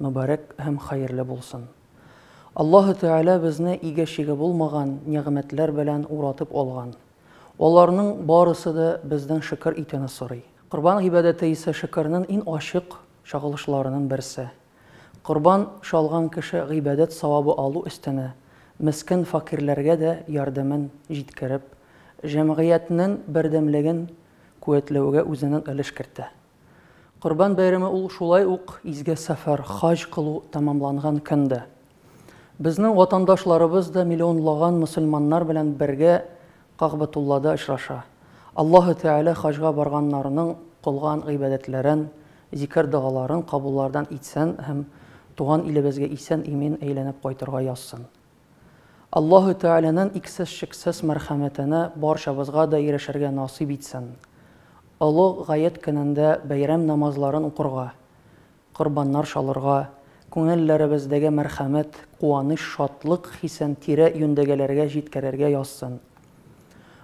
Мөбарәк һәм хәерле булсын. Аллаһы Тәгалә безне иге-чиге булмаган нигъмәтләр белән уратып алган. Аларның барысы да бездән шөкер итүне сорый. Корбан гыйбадәте исә шөкернен ин ачык чагылышларынын берсе. Корбан чалган кеше гыйбадәт савабы алу өстенә, мескен факирләргә дә ярдәмен җиткереп, җәмгыятьнен бердәмлеген куәтләүгә үзенен өлеш кертә. Корбан бәйрәме ул шулай ук изге сәфәр, хаҗ кылу тәмамланган көн дә. Безнең ватандашларыбыз да миллионлаган мөселманнар белән бергә Кагъбәтуллада очраша. Аллаһы Тәгалә хаҗга барганнарның кылган гыйбадәтләрен, зикер-догаларын кабуллардан итсен һәм туган илебезгә исән-имин әйләнеп кайтырга язсын. Аллаһу Тәгаләнен иксез-чиксез мәрхәмәтене барчабызга да ирешергә насыйп итсен. Олы Гает көнендә бәйрәм намазларын укырга, корбаннар чалырга, күңелләребездәге мәрхәмәт, куаныч, шатлык хисен тирә-юньдәгеләргә җиткерергә язсын.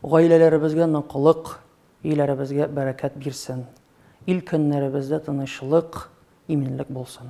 Гаиләләребезгә ныклык, өйләребезгә бәрәкәт бирсен. Ил-көннәребездә тынычлык, иминлек булсын.